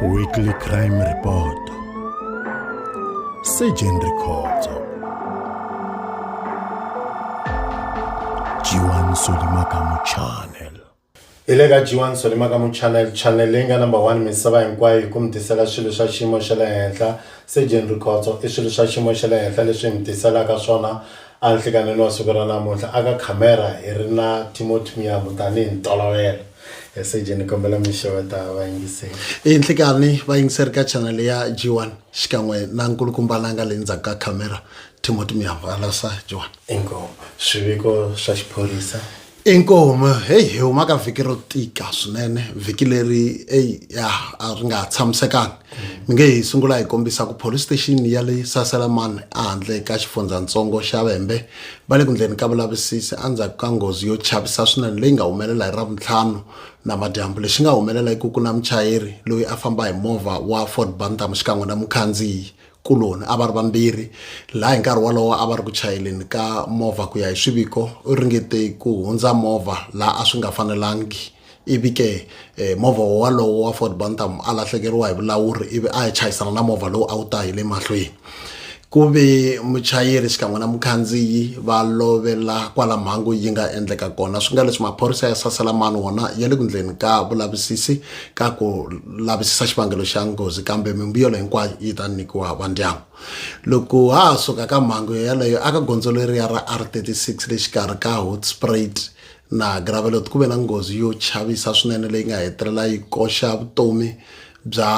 Weekly Crime Report Surgeon Rikhotso Jiwan Solimakamu Channel hi le ka jiwan solimakamu channel channel leyi nga number one misava hinkwayo hi ku mi tisela swilo swa xiyimo xa le henhla surgeon rikhotso i swilo swa xiyimo xa le henhla leswi hi mi tiselaka swona A nhlikanheni wa siku ra namuntlha aka khamera hi ri na Timothy Muyambu tanihi ntolovelo. He Seje ni kombela mi xeweta vayingiseri. Hi nhlikani vayingiseri ka chanele ya G1 xikan'we na nkulukumba la nga le ndzhaku ka khamera Timothy Muyambu. Halasa G1. Inkomu. Swiviko swa xiphorisa. Inkomu heyi hi huma ka vhiki ro tika swinene vhiki leri eyi ya a ri nga ha tshamisekangi mi nge hi sungula hi kombisa ku police station ya le saselamani ehandle ka xifundzatsongo xa vembe va le ku ndleni ka vulavisisi endzhaku ka nghozi yo chavisa swinene leyi nga humelela hi ravuntlhanu namadyambu lexi nga humelela i ku ku na muchayeri loyi a famba hi movha wa ford bantam xikan'we na mukhandziyi kuloni a va ri vambirhi laha hi nkarhi wolowo a va ri ku chayeleni ka movha ku ya hi swiviko u ringete ku hundza movha laha a swi nga fanelangi ivi ke eh, movha wolowo wa ford bantam a lahlekeriwa hi vulawuri ivi a ya chayisana na movha lowu a wu ta hi le mahlweni ku ve muchayeri xikan'we na mukhandziyi va lovela kwala mhangu yi nga endleka kona swi nga leswi maphorisa ya sasela mani wona ya le ku ndleni ka vulavisisi ka ku lavisisa xivangelo xa nghozi kambe mimbuyelo hinkwayo yi ta nyikiwa vandyangu loko ha ha suka ka mhangu yeleyo aka gondzo leriya ra r36 le xikarhi ka hotsprait na gravelot ku ve na nghozi yo chavisa swinene leyi nga hetelela yi koxa vutomi bya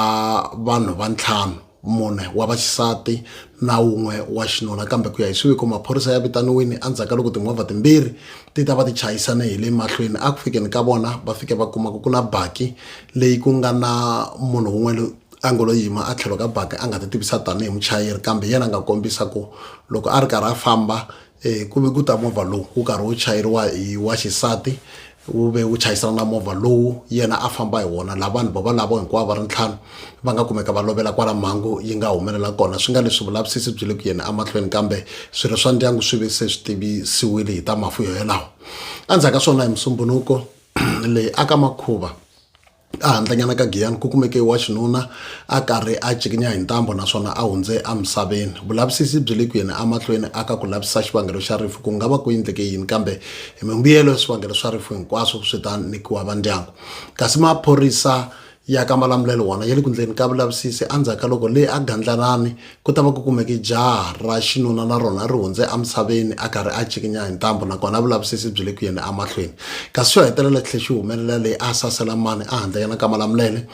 vanhu va ntlhanu mune wa vaxisati na wun'we wa xinuna kambe ku ya hi swiviko maphorisa ya vitaniwini endzhaku ka loko timovha timbirhi ti ta va ti chayisane hi le mahlweni a ku fikeni ka vona va fike va kuma ku ku na baki leyi ku nga na munhu wun'we a ngo lo yima a tlhelo ka baki a nga ti tivisa tanihi muchayeri kambe yena a nga kombisa ku loko a ri karhi a famba e ku ve ku ta movha lowu wu karhi wu chayeriwa hi wa xisati wu ve wu chayisana na movha lowu yena a famba hi wona la vanhu bava lavo hinkwavo va ri ntlhanu va nga kumeka va lovela kwala mhangu yi nga humelela kona swi nga leswi vulavisisi byi le ku yeni emahlweni kambe swirho swa ndyangu swi ve se swi tivisiwile hi ta mafu yo yelawo endzhaku ka swona hi musumbunuko leyi aka makhuva Ehandlanyana ka Giyani ku kumeke wa xinuna a karhi a cikinya hi ntambu naswona a hundze emisaveni. Vulavisisi byi le ku yeni emahlweni aka ku lavisisa xivangelo xa rifu, ku nga va ku endleke yini kambe hi mimbuyelo ya swivangelo swa rifu hinkwaswo swi ta nyikiwa va ndyangu. Kasi maphorisa ya ka Malamulele wona ya le ku endleni ka vulavisisi endzhaku ka loko le eGandlanani Ku ta va ku kumeke jaha ra xinuna na rona ri hundze emisaveni a karhi a cikinya hi ntambu nakona vulavisisi byi le ku yeni emahlweni kasi xo hetelela tlhe xi humelela leyi a sasela mani a handle ka nakama la mulele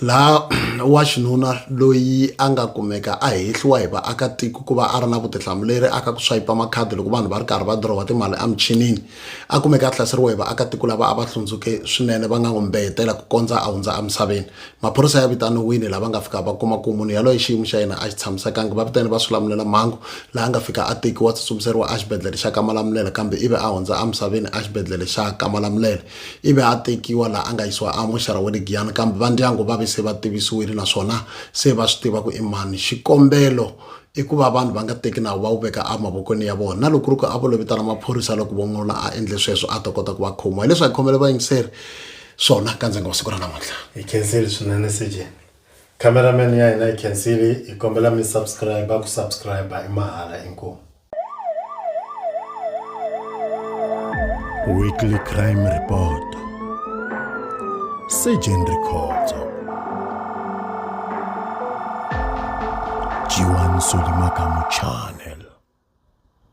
laha wa xinuna loyi a nga kumeka a hehliwa hi vaakatiko ku va a ri na vutihlamuleri aka ku swayipa makhadi loko vanhu va ri karhi va dirowa timali emichinini a kumeka a hlaseriwa hi vaakatiko lava a va hlundzuke swinene va nga n'wi mbeyetela ku kondza a hundza emisaveni maphorisa ya vitaniwile lava nga fika va kuma ku munhu yaloye xiyimo xa yena a xi tshamisekanga va vitane va swilamulela mhangu laha nga fika a tekiwa tsutsumiseriwa exibedhlele xa kamalamulele kambe ivi a hundza emisaveni exibedhlele xa kamalamulele ivi a tekiwa laha a nga yisiwa amoxara wa le giyani kambe va ndyangu va ve se va tivisiwile naswona se va swi tiva ku i mani xikombelo i ku va vanhu va nga teki nawu va wu veka emavokweni ya vona na loko ri ku a vo lo vitana maphorisa loko von'ola a endle sweswo a ta kota ku va khomiwa hileswi a hi khomele vayingiseri swona ka ndzi nga wa siku ra namuntlha hi khensile swinene cj cameraman ya hina hi khensile hi kombela mi subscribe ku subscribe i mahala inkomu weekly crime report sejen rikhotso jiwan solimakamu channel